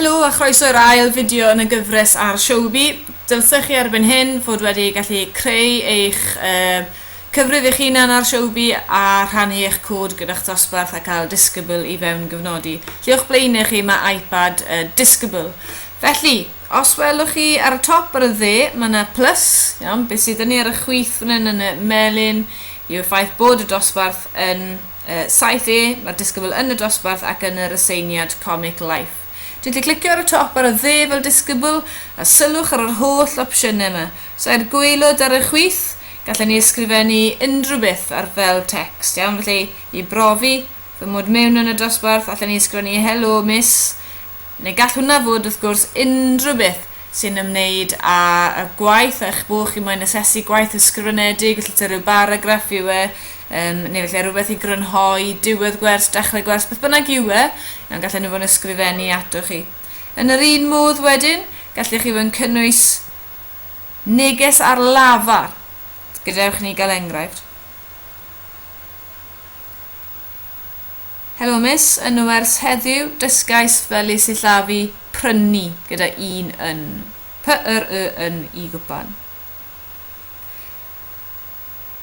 Helo a chroeso i'r ail fideo yn y gyfres ar Showbie. Dylsech chi erbyn hyn fod wedi gallu creu eich uh, cyfrif eich hunan ar Showbie a rhannu eich cod gyda'ch dosbarth a cael disgybl i fewn gyfnodi. Lle o'ch blaenau chi mae iPad uh, disgybl. Felly, os welwch chi ar y top ar y dde, mae yna plus, iawn, beth sydd yn ni ar y chwith fan hyn yn y melin yw'r ffaith bod y dosbarth yn 7E, Mae'r disgybl yn y dosbarth ac yn yr aseiniad Comic Life. Dwi 'di clicio ar y top ar y dde fel disgybl, a sylwch ar yr holl opsiynau 'ma. Os ai'r gwaelod ar y chwith, gallen ni ysgrifennu unrhyw beth ar fel tecst, iawn? Felly, i brofi fy mod mewn yn y dosbarth, allen ni ysgrifennu 'Helo, Miss', neu gall hwnna fod wrth gwrs unrhyw beth sy'n ymwneud â gwaith a'ch bod chi moyn asesu gwaith ysgrifenedig, felly ta rhyw baragraff yw e, um, neu felly rhywbeth i grynhoi diwedd gwers, dechrau gwers, beth bynnag yw e, iawn, gallen nhw fod yn ysgrifennu atoch chi. Yn yr un modd wedyn, gallech chi fod yn cynnwys neges ar lafar. Gadewch ni gael enghraifft. Helo Miss, yn nwers heddiw, dysgais fel y sillafu prynu gyda un yn, py yr y yn i gwpan.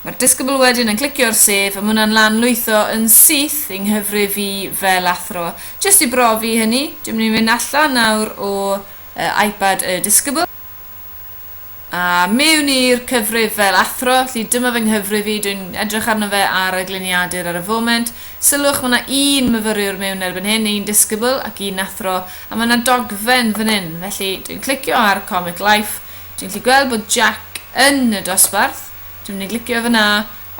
Mae'r disgybl wedyn yn clicio'r sef a ma hwnna'n lan lwytho yn syth yng nghyfrif i fel athro. Jyst i brofi hynny, dwi'n mynd i fynd allan nawr o yy iPad y disgybl. A mewn i'r cyfrif fel athro, felly dyma fy nghyfrif i, dwi'n edrych arno fe ar y gliniadur ar y foment. Sylwch, mae 'na un myfyriwr mewn erbyn hyn, un disgybl ac un athro, a mae 'na dogfen fan hyn. Felly, dwi'n clicio ar Comic Life, dwi'n gallu gweld bod Jack yn y dosbarth, dwi'n mynd i glicio fan'na,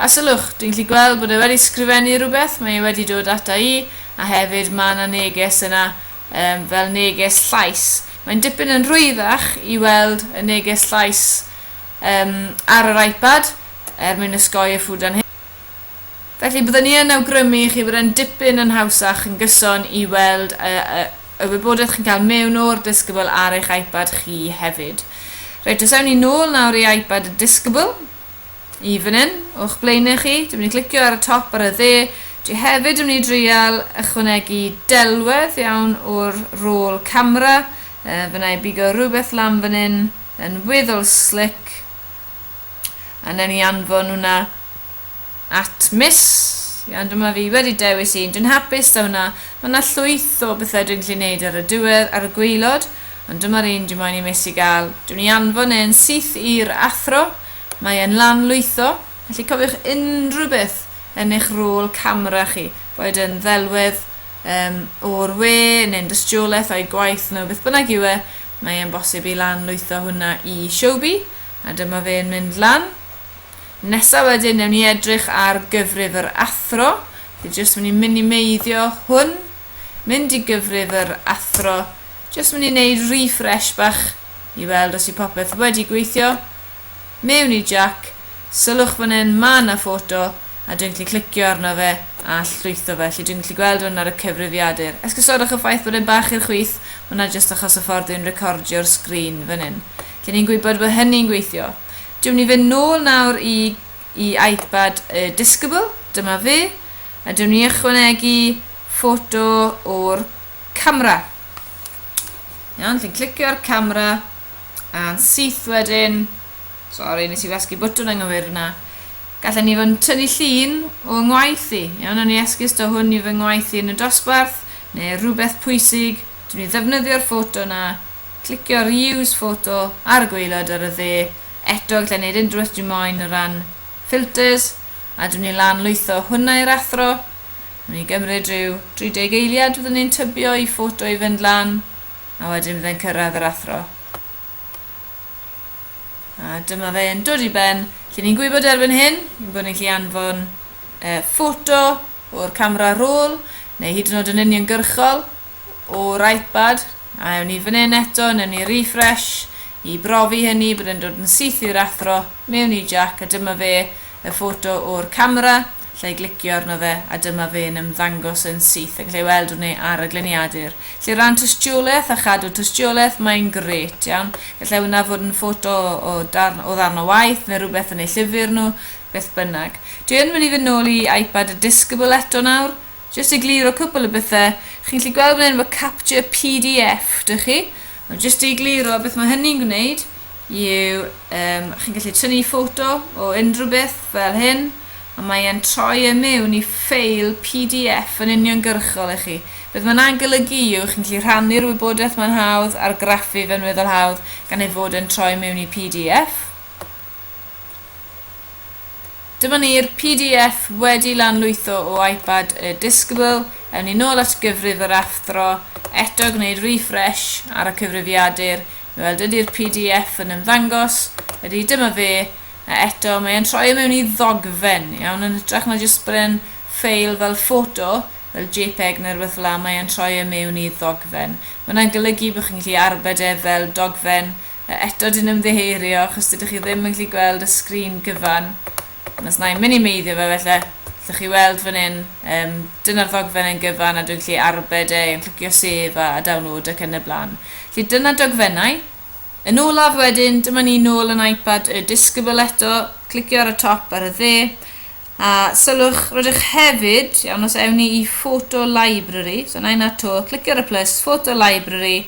a sylwch, dwi'n gallu gweld bod e wedi sgrifennu rhywbeth, mae e wedi dod ata i, a hefyd mae 'na neges yna yym, fel neges llais. Mae'n dipyn yn rhwyddach i weld y neges llais um, ar yr iPad er mwyn osgoi y ffwdan hyn. Felly byddwn ni yn awgrymu i chi bod e'n dipyn yn hawsach yn gyson i weld y, y, y wybodaeth chi'n cael mewn o'r disgybl ar eich iPad chi hefyd. Reit, os ewn ni nôl nawr i iPad y disgybl, i fan hyn, o'ch blaenau chi. Dwi'n mynd i glicio ar y top ar y dde. Dwi hefyd yn mynd i dreial ychwanegu delwedd iawn o'r rôl camera. Uh, fyna i bigo rhywbeth lan fan hyn yn weddol slick. A newn ni anfon hwnna At Miss, Iawn, dyma fi wedi dewis un, dwi'n hapus 'da hwnna, ma' 'na llwyth o bethe dwi'n gallu neud ar y diwedd, ar y gwaelod, ond dyma'r un dwi moyn i Missy ga'l, dwi myn' i anfon e yn syth i'r athro, mae e'n lan lwytho, felly cofiwch unrhyw beth yn eich rôl camera chi, boed yn ddelwedd yym o'r we neu'n dystiolaeth o'i gwaith nhw, beth bynnag yw e, mae e'n bosib i lan lwytho hwnna i Showbie, a dyma fe'n mynd lan. Nesa wedyn newn ni edrych ar gyfrif yr athro. Dwi jyst mynd i minimeiddio hwn. Mynd i gyfrif yr athro. Jyst mynd i neud refresh bach i weld os i popeth wedi gweithio. Mewn i Jac. Sylwch fan hyn ma na ffoto a dwi'n gallu clicio arno fe a llwytho fe. Felly dwi'n gallu gweld hwn ar y cyfrifiadur. Esgusodwch y ffaith bod e'n bach i'r chwith. Mae hwnna jyst achos y ffordd dwi'n recordio'r sgrin fan hyn. Lle ni'n gwybod bod hynny'n gweithio. Dew'n ni fynd nôl nawr i i iPad y Discable, dyma fe, a dew'n ni ychwanegu ffoto o'r camera. Iawn, chi'n clicio ar camera, a'n syth wedyn, sori nes i wasgu bwtwn anghywir yna, gallen ni fod yn tynnu llun o ngwaith i, iawn, o'n i esgus do hwn i fy ngwaith i yn y dosbarth, neu rhywbeth pwysig, dew'n ni ddefnyddio'r ffoto yna Clicio ar Use Photo ar y gwaelod ar y dde. Eto, gallai wneud unrhyw beth dwi moyn o ran filters, a dwi'n mynd i lan lwytho hwnna i'r athro. Mae'n mynd i gymryd rhyw 30 eiliad fyddwn ni'n tybio i photo i fynd lan, a wedyn byddai'n cyrraedd yr athro. A dyma fe'n dod i ben, lle ni'n gwybod erbyn hyn, yn bod ni'n gallu anfon e, photo o'r camera rôl, neu hyd yn oed yn uniongyrchol, o'r iPad, a ewn ni fan hyn eto, newn ni refresh i brofi hynny bod e'n dod yn syth i'r athro, mewn i Jack a dyma fe, y ffoto o'r camera, lle i glicio arno fe a dyma fe'n ymddangos yn syth a gallai weld hwnne ar y gliniadur. Felly ran tystiolaeth a chadw tystiolaeth mae'n gret iawn, gallai hwnna fod yn ffoto o darn o ddarn o waith neu rhywbeth yn eu llyfr nhw, beth bynnag. Dwi yn mynd i fynd nôl i iPad a Discable eto nawr, Jyst i gliro cwpl o bethe, chi'n gallu gweld fan hyn efo capture pdf, dych chi? Ond jyst i gliro, beth mae hynny'n gwneud yw, um, chi'n gallu tynnu ffoto o unrhyw beth fel hyn, a mae e'n troi e mewn i ffeil pdf yn uniongyrchol i chi. Beth mae'n angolygu yw, chi'n gallu rhannu'r wybodaeth mae'n hawdd, argraffu fe'n weddol hawdd, gan ei fod e'n troi mewn i pdf. Dyma ni'r pdf wedi lanlwytho o iPad y disgybl, ewn ni nôl at gyfrif yr athro, eto gwneud refresh ar y cyfrifiadur i weld ydy'r pdf yn ymddangos, ydy, dyma fe, a eto mae e'n troi o mewn i ddogfen, iawn, yn hytrach na jyst bod e'n ffeil fel ffoto, fel jpeg neu rywbeth fel'a mae e'n troi e mewn i ddogfen. Mae hwnna'n golygu bod chi'n gallu arbed e fel dogfen, Eto dwi'n ymddiheurio achos dydych chi ddim yn gallu gweld y sgrin gyfan. Ond os na i'n minimeiddio fe felly, allwch chi weld fan hyn, um, dyna'r ddogfen yn gyfan a dwi'n gallu arbed e, yn clicio sef a, a download ac yn y blaen. Felly dyna dogfennau. Yn olaf wedyn, dyma ni nôl yn iPad y disgybl eto, clicio ar y top ar y dde, A sylwch, rydych hefyd, iawn, os ewn ni i Photo Library, so na i na to, clicio ar y plus, Photo Library,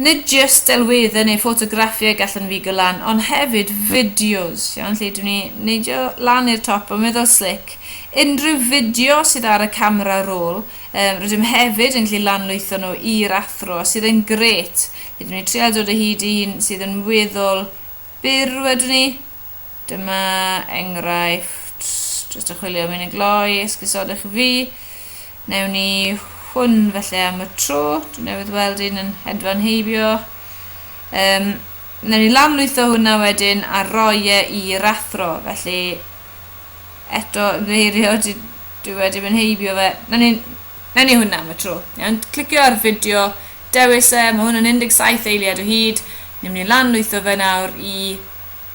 nid jyst delweddau neu ffotograffiau gallwn figo lan, ond hefyd fideos, iawn, lle dwi'n ni neidio lan i'r top a meddwl slic, unrhyw fideo sydd ar y camera roll, um, rydym hefyd yn gallu lanlwytho nhw i'r athro, sydd yn gret, lle dwi'n ni trial dod o hyd i un sydd yn weddol byr wedyn ni. Dyma enghraifft, jyst yn chwilio am un yn gloi, esgusodwch i fi. Newn ni hwn felly am y tro, dwi newydd weld un yn hedfan heibio. Um, newn ni lanlwytho hwnna wedyn a roi e i'r athro, felly eto ymddiheirio dwi wedi mynd heibio fe. Newn ni Wnawn ni hwnna am y tro. Iawn, clicio ar fideo, dewis e, mae hwn yn 17 eiliad o hyd, ni'n mynd i lanlwytho fe nawr i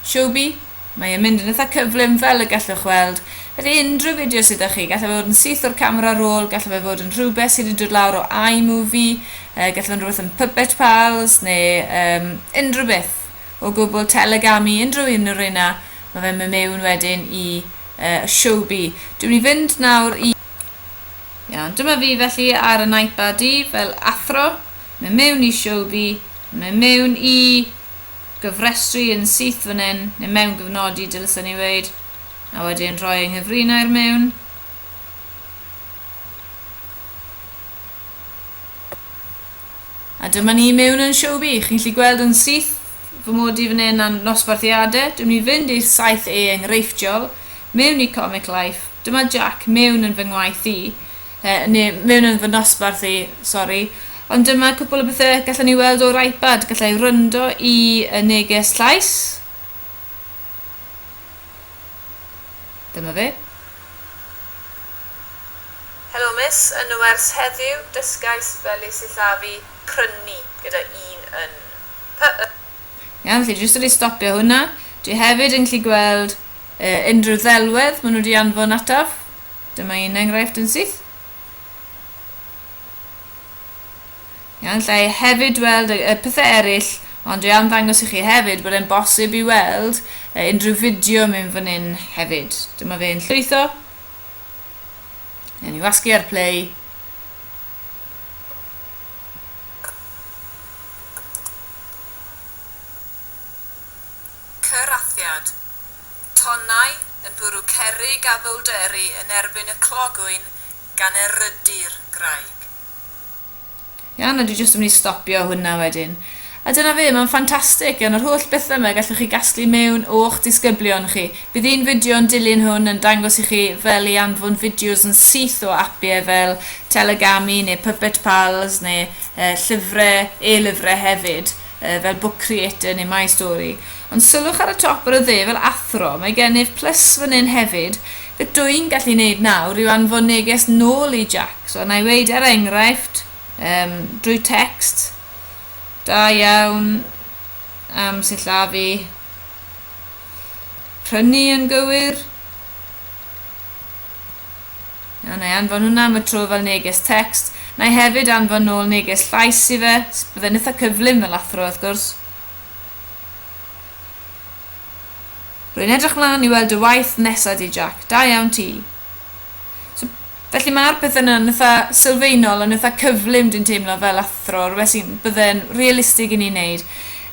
Showbie, mae e'n mynd yn eitha cyflym fel y gallwch weld, felly unrhyw fideo sydd 'da chi, gallai fe fod yn syth o'r camera roll, gallai fe fod yn rhywbeth sydd wedi dod lawr o iMovie, yy gallai fod yn rhywbeth yn Puppet Pals neu um, unrhyw beth o gwbl, Telegami, unrhyw un o'r reina, mae fe'n mynd mewn wedyn i uh, Showbie. Dwi'n mynd i fynd nawr i Iawn, dyma fi felly ar y iPad i fel athro, mae mewn i Showbie, mae mewn i gyfrestru yn syth fan hyn, neu mewn gyfnodi dylsa ni weid, a wedyn rhoi yng nghyfrinair mewn. A dyma ni mewn yn Showbie, chi'n lli gweld yn syth fy mod i fan hyn am nosbarthiadau, dwi'n mynd i fynd i'r saith A enghreifftiol, mewn i Comic Life, dyma Jack mewn yn fy ngwaith i, yy, neu mewn yn fy nosbarth i, sori, ond dyma cwpl o bethau gallwn ni weld o'r iPad, gallai wrando i y neges llais, dyma fe. Helo Miss, yn y wers heddiw, dysgais fel y sillafu prynu gyda un yn. P-y. Iawn, felly jyst wedi stopio hwnna. Dwi hefyd yn gallu gweld uh, unrhyw ddelwedd maen nhw wedi anfon ataf. Dyma un enghraifft yn syth. Iawn, lle i hefyd weld y, y pethau eraill, ond dwi am ddangos i chi hefyd bod e'n bosib i weld uh, unrhyw fideo mynd fan hyn hefyd. Dyma fe yn llwytho. Iawn, i wasgu ar play. Cyrathiad, Tonnau yn bwrw cerrig a bowlderu yn erbyn y clogwyn gan erydu'r graig. Iawn, a dwi jyst yn mynd i stopio hwnna wedyn. A dyna fe, mae'n ffantastig, gan yr holl bethe 'ma gallwch chi gasglu mewn o'ch disgyblion chi. Bydd un fideo yn dilyn hwn yn dangos i chi fel i anfon fideos yn syth o apiau fel Telegami neu Puppet Pals neu yy llyfrau, e-lyfrau hefyd, yy fel Book Creator neu My Story. Ond sylwch ar y top ar y dde fel athro, mae gennyf plus fan hyn hefyd, beth dw i'n gallu neud nawr yw anfon neges nôl i Jax, wel, na i weud er enghraifft, yym, drwy text, Da iawn am sillafu. Prynu yn gywir. A na i anfon hwnna am y tro fel neges text. Na i hefyd anfon nôl neges llais i fe. Byddai'n eitha cyflym fel athro wrth gwrs. Rwy'n edrych mlaen i weld y waith nesa di Jack. Da iawn ti. So, felly mae'r peth yna yn ytha sylfaenol, yn ytha cyflym dwi'n teimlo fel athro, rhywbeth sy'n bydde'n realistig i ni wneud.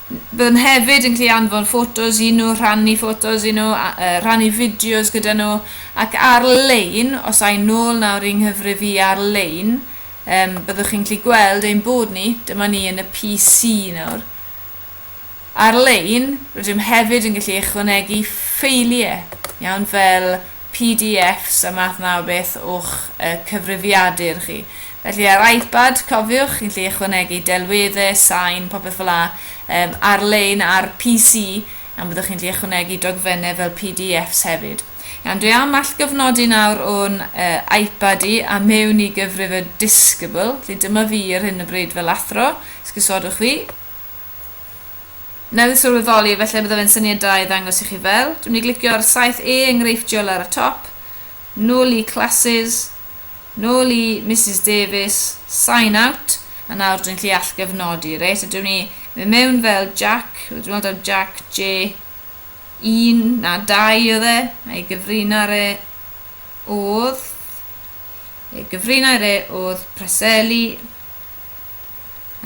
Byddwn hefyd yn gallu anfon ffotos i nhw, rhannu ffotos i nhw, a, uh, rhannu fideos gyda nhw, ac ar-lein, os a'i nôl nawr i'n nghyfrif i ar-lein, um, byddwch chi'n gallu gweld ein bod ni, dyma ni yn y PC nawr, Ar-lein, rydym hefyd yn gallu ychwanegu ffeiliau, iawn, fel PDFs a math 'na o beth o'ch cyfrifiadur chi. Felly, ar iPad, cofiwch, chi'n gallu ychwanegu delweddau, sain, popeth fel 'na, yym, ar-lein, ar PC, iawn, byddwch chi'n gallu ychwanegu dogfennau fel PDFs hefyd. Iawn, dwi am allgyfnodi nawr o'n yy iPad i a mewn i gyfrif y Discable, felly dyma fi ar hyn o bryd fel athro, esgusodwch fi. newydd sylweddoli efallai bydda fe'n syniad da i ddangos i chi fel dwi'n mynd i glicio ar 7e enghreifftiol ar y top nôl i classes nôl i Misus Davies sign out a nawr dwi'n gallu allgyfnodi reit a dwi'n mynd i mynd mewn fel Jack dwi'n meddwl taw Jack J1 na 2 oedd e a'i gyfrinair e oedd ei gyfrinair e oedd Preseli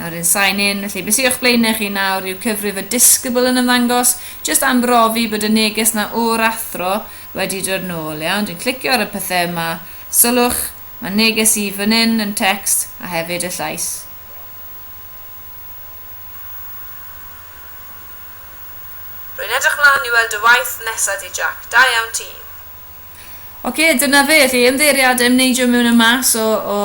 Nawr yn sign in, felly beth sydd o'ch blaenau chi nawr yw cyfrif y disgybl yn ymddangos, jyst am brofi bod y neges na o'r athro wedi dod nôl, iawn, dwi'n clicio ar y pethau yma, sylwch, mae neges i fan hyn yn text a hefyd y llais. Rwy'n edrych mlaen i weld dy waith nesa di Jack, da iawn ti! Ocê, dyna fe, chi ymddeiriad yn neidio mewn a mas o o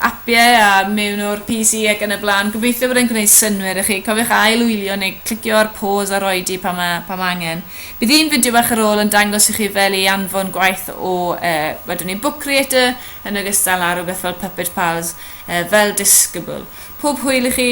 apiau a mewn o'r PC ac yn y blaen, gobeithio bod e'n gwneud synnwyr i chi, cofiwch ail wylio neu clicio ar pause a rhoi di pan ma pan ma angen. Bydd un fideo bach ar ôl yn dangos i chi fel i anfon gwaith o yy wedwn ni Book Creator yn ogystal â rhywbeth fel Puppet Pals yy fel discable. Pob hwyl i chi!